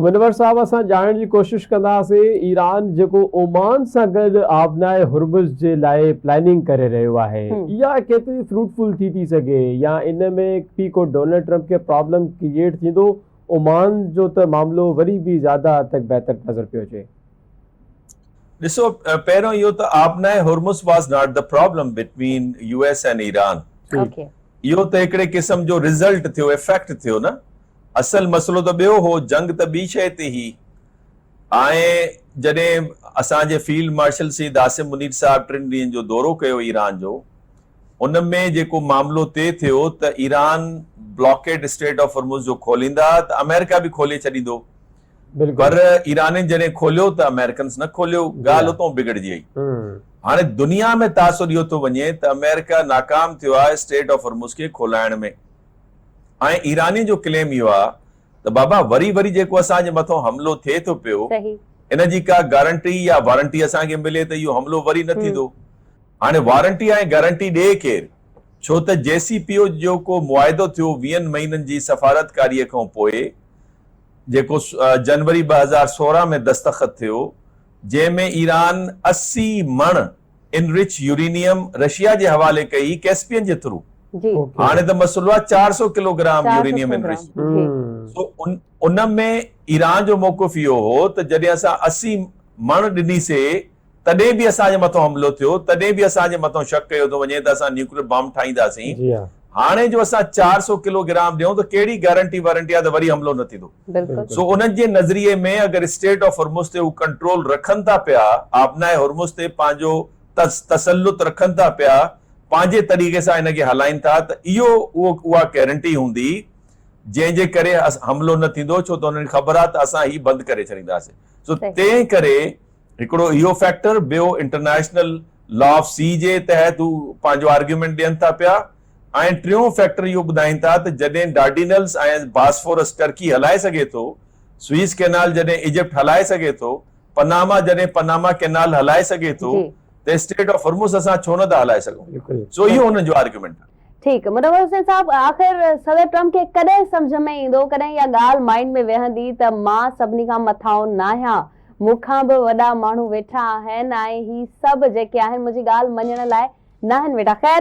منور صاحب اسان ڄاڻڻ جي ڪوشش ڪنداسين ايران جيڪو اومان سان گڏ آبناء هرمز جي لاء پلاننگ ڪري رهيو آهي اها ڪيتري فروٽفل ٿي ٿي سگهي يا ان ۾ به ڪو ڊونلڊ ٽرمپ کي پرابلم ڪريئيٽ ٿيندو اومان جو ته معاملو وري به زياده حد تڪ بهتر نظر پيو اچي. ڏسو پهريون اهو ته آبناء هرمز واز ناٽ ته problem between U S and Iran اهو ته هڪڙي قسم جو رزلٽ ٿيو افيڪٽ ٿيو نه اصل مسئلو ته ٻيو هو، جنگ ته ٻي شيء تي هئي ۽ جڏهن اسان جي فيلڊ مارشل سيد عاصم منير صاحب ٽن ڏينهن جو دورو ڪيو ايران جو، ان ۾ جيڪو معاملو طئي ٿيو ته Iran blockade strait of Hormuz جو کوليندا ته آمريڪا به کولي ڇڏيندو پر ايرانين جڏهن کوليو ته آمريڪنز نه کوليو، ڳالهه اتئون بگڙجي وئي. هاڻي دنيا ۾ تاثر اهو ٿو وڃي ته آمريڪا ناڪام ٿيو آهي اسٽريٽ آف هرمز کي کولائڻ ۾. ۽ ايرانين جو ڪليم اهو آهي ته بابا وري وري جيڪو اسان جي مٿان حملو ٿئي ٿو پيو ان جي ڪا گارنٽي يا وارنٽي اسان کي ملي ته اهو حملو وري نه ٿيندو. هاڻي وارنٽي ۽ گارنٽي ڏئي ڪير؟ ڇو ته جي سي پي او جو ڪو معاهدو ٿيو ويهن مهينن جي سفارتڪاري کان پوء جيڪو جنوري ٻه هزار سورهن ۾ دستخط ٿيو جنهن ۾ ايران اسي مڻ انرچ يورينيم رشيا جي حوالي ڪئي هئي ڪيسپين جي ٿرو هاڻي ته مسئلو آهي چار سؤ ڪلو گرام يورينيم انرچ سو ان ۾ ايران جو موقف اهو هو ته جڏهن اسان اسي مڻ ڏنيسي تڏهن به اسان جي مٿان حملو ٿيو تڏهن به اسان جي مٿان شڪ ڪيو ٿو وڃي ته اسان نيوڪليئر بامب ٺاهينداسين هاڻي جو اسان چار سؤ ڪلو گرام ڏيون ته ڪهڙي گارنٽي وارنٽي آهي ته وري حملو نه ٿيندو. بلڪل. سو انهن جي نظريي ۾ اگر اسٽريٽ آف هرمز تي هو ڪنٽرول رکن ٿا پيا، آبناء هرمز تي پنهنجو تسلط رکن ٿا پيا، پنهنجي طريقي سان ان کي هلائين ٿا ته اهو اهو اها گيرنٽي هوندي جنهن جي ڪري حملو نه ٿيندو ڇو ته انهن کي خبر آهي ته اسان هي بند ڪري ڇڏينداسين. سو تنهن ڪري هڪڙو اهو فيڪٽر، ٻيو انٽرنيشنل لا آف سي جي تحت هو پنهنجو آرگيومينٽ ڏين ٿا پيا ۽ ۽ ٽيون فيڪٽر اهو ٻڌائين ٿا ته جڏهن ڊارڊينلز ۽ باسفورس ٽرڪي هلائي سگهي ٿو، سوئيز ڪئنال جڏهن ايجپٽ هلائي سگهي ٿو، پناما جڏهن پناما ڪئنال هلائي سگهي ٿو ته اسٽريٽ آف هرمز اسان ڇو نه ٿا هلائي سگهون؟ سو اهو هنن جو آرگيومينٽ آهي. ٺيڪ منور حسين صاحب آخر صدر ٽرمپ کي ڪڏهن سمجهه ۾ ايندو ڪڏهن اها ڳالهه مائينڊ ۾ ويهندي ته مان سڀني کان مٿانهون ناهيان مون کان به وڏا ماڻهو ويٺا آهن ۽ هي سڀ جيڪي آهن منهنجي ڳالهه مڃڻ لاء ناهن ويٺا خير